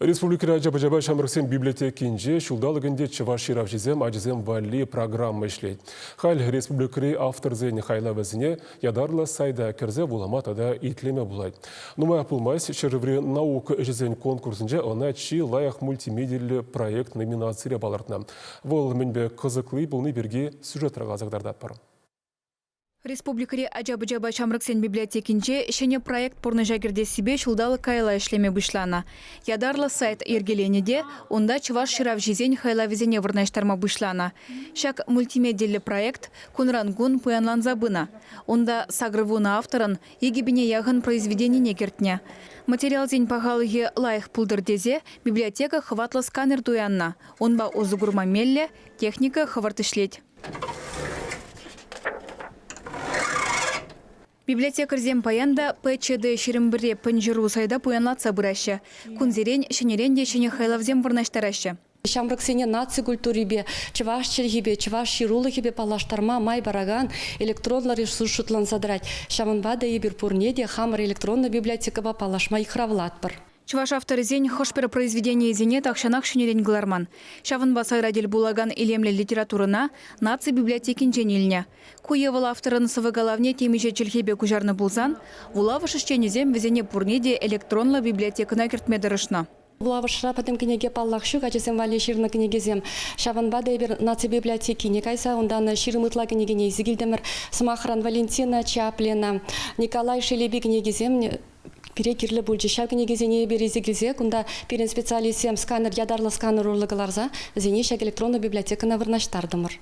Республикӑри ача-пӑчапа ҫамрӑксен библиотекинче ҫулталӑк ӗнтӗ чӑваш ҫыравҫисем ачасем валли программа ӗҫлет. Халь республикӑри авторсен хайлавӗсене ятарлӑ сайта кӗрсе вулама тата итлеме пулать. Нумаях пулмасть ҫӗршыври наука ӗҫӗсен конкурсӗнче ӑна чи лайӑх мультимедийлӗ проект номинацире палӑртнӑ. Вӑл мӗнпе кӑсӑкли пулни пирки сюжетра каласа кӑтартатпӑр. Республикӑри ача-пӑчапа ҫамрӑксен библиотекинче ҫӗнӗ проект пурнӑҫа кӗртессипе ҫулталӑк каялла ӗҫлеме пуҫланӑ. Ятарлӑ сайт йӗркеленӗ те унта чӑваш ҫыравҫисен хайлавӗсене вырнаҫтарма пуҫланӑ. Ҫак мультимедиллӗ проект кунран-кун пуянланса пынӑ. Унта сакӑрвунӑ авторӑн икӗ пине яхӑн произведенине кӗртнӗ. Материалсен пахалӑхӗ лайӑх пултӑр тесе библиотека хӑватлӑ сканер туяннӑ. Унпа усӑ курма меллӗ техника хӑвӑрт ӗҫлет. Библиотекарьсем паян та ПЧД ҫирӗмпӗрре пӗнҫыру сайта пуянлатса пыраҫҫӗ. Кунсерен ҫӗнӗрен те ҫӗнӗ хайлавсем вырнаҫтараҫҫӗ. Ҫамрӑксене наци культурипе, чӑваш чӗлхипе, чӑваш ҫырулӑхӗпе паллаштарма май паракан электронлӑ ресурс шутланса тӑрать. Ҫавӑнпа та эпир пурне те хамӑр электронлӑ библиотекӑпа паллашма йыхравлатпӑр. Чӑваш авторӗсен хӑш-пӗр произведенийӗсене тахҫанах ҫӗнӗрен кӑларман. Ҫавӑнпа сайра тӗл пулакан илемлӗ литературӑна наци библиотекинчен илнӗ. Ку е вӑл авторӑн сӑвӑ-калавне темиҫе чӗлхепе куҫарнӑ пулсан, вулавӑш ӗҫченӗсем вӗсене пурне те электронлӑ библиотекӑна кӗртме тӑрӑшнӑ. Вулавӑшра пӗтӗм кӗнеке, паллах, ҫук ачасем валли ҫырнӑ кӗнекесем. Ҫавӑнпа та эпир наци библиотекине кайса унтан ҫирӗм ытла кӗнекене илсе килтӗмӗр. Сӑмахран, Валентина Чаплина, Николай Шелепи кӗнекисем Пире кирлӗ пулчӗ. Ҫав кӗнекесене эпир илсе килсе кунта пирӗн специалистсем сканер ятарлӑ сканер урлӑ кӑларса вӗсене ҫак электронлӑ библиотекӑна вырнаҫтартӑмӑр.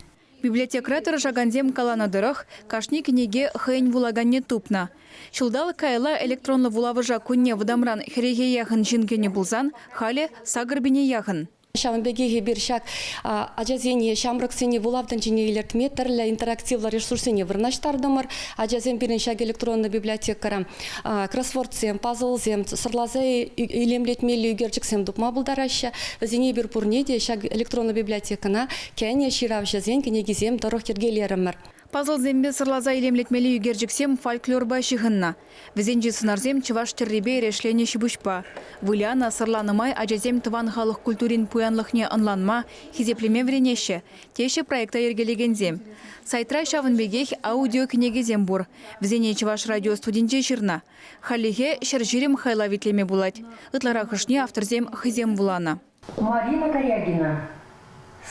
Библиотекӑра тӑрӑшакансем каланӑ тӑрӑх, кашни кӗнеке хӑйӗн вулаканне тупнӑ. Ҫулталӑк каялла электронлӑ вулавӑша кунне вӑтамран хӗрехе яхӑн ҫын кӗнӗ пулсан, халӗ сакӑр пине яхӑн. Ҫавӑн пекех эпир ҫак ачасене, ҫамрӑксене вулав тӗнчине илӗртме тӗрлӗ интерактивлӑ ресурссене вырнаҫтартӑмӑр. Ачасем пирӗн ҫак электронлӑ библиотекӑра кроссвордсем, пазлсем, сӑрласа илемлетмелли ӳкерчӗксем тупма пултараҫҫӗ. Вӗсене эпир пурне те ҫак электронлӑ библиотекӑна кӗнӗ ҫыравҫӑсен кӗнекисем тӑрӑх йӗркелерӗмӗр. Пазлсемпе сӑрласа илемлетмелли ӳкерчӗксем фольклорпа ҫыхӑннӑ. Вӗсенчи сӑнарсем чӑваш тӗррипе эрешленӗ ҫипуҫпа. Вылянӑ, сӑрланӑ май ачасем тӑван халӑх культурин пуянлӑхне ӑнланма, хисеплеме вӗренеҫҫӗ, теҫҫӗ проекта йӗркелекенсем. Сайтра ҫавӑн пекех аудиокӗнекесем пур. Вӗсене Чӑваш радио студинче ҫырнӑ. Хальлӗхе ҫӗр ҫирӗм хайлав итлеме пулать. Ытларахӑшне авторсем хӑйсем вуланӑ. Марина Каягина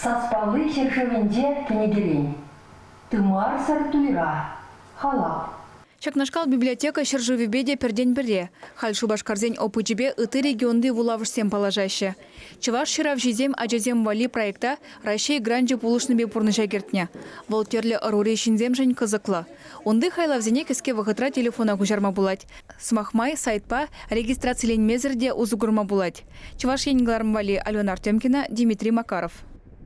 Саспалли ҫӗршывӗнче кӗнекерен Тымарсӑр туйра, халап. Ҫакнашкал библиотека ҫӗршывӗпе те пӗртен-пӗрре. Халь шупашкарсен опычӗпе ытти регионти вулавӑшсем паллашаҫҫӗ. Чӑваш ҫыравҫисем ачасем валли проекта Раҫҫей гранчӗ пулӑшнипе пурнӑҫа кӗртнӗ. Вӑл тӗрлӗ ӑрури ҫынсемшӗн кӑсӑклӑ. Унти хайлавсене кӗске вӑхӑтра телефона куҫарма пулать. Сӑмах май, сайтпа регистрациленмесӗр те усӑ курма пулать. Чӑваш Ен кӑларӑм валли Алена Артемкина, Дмитрий Макаров.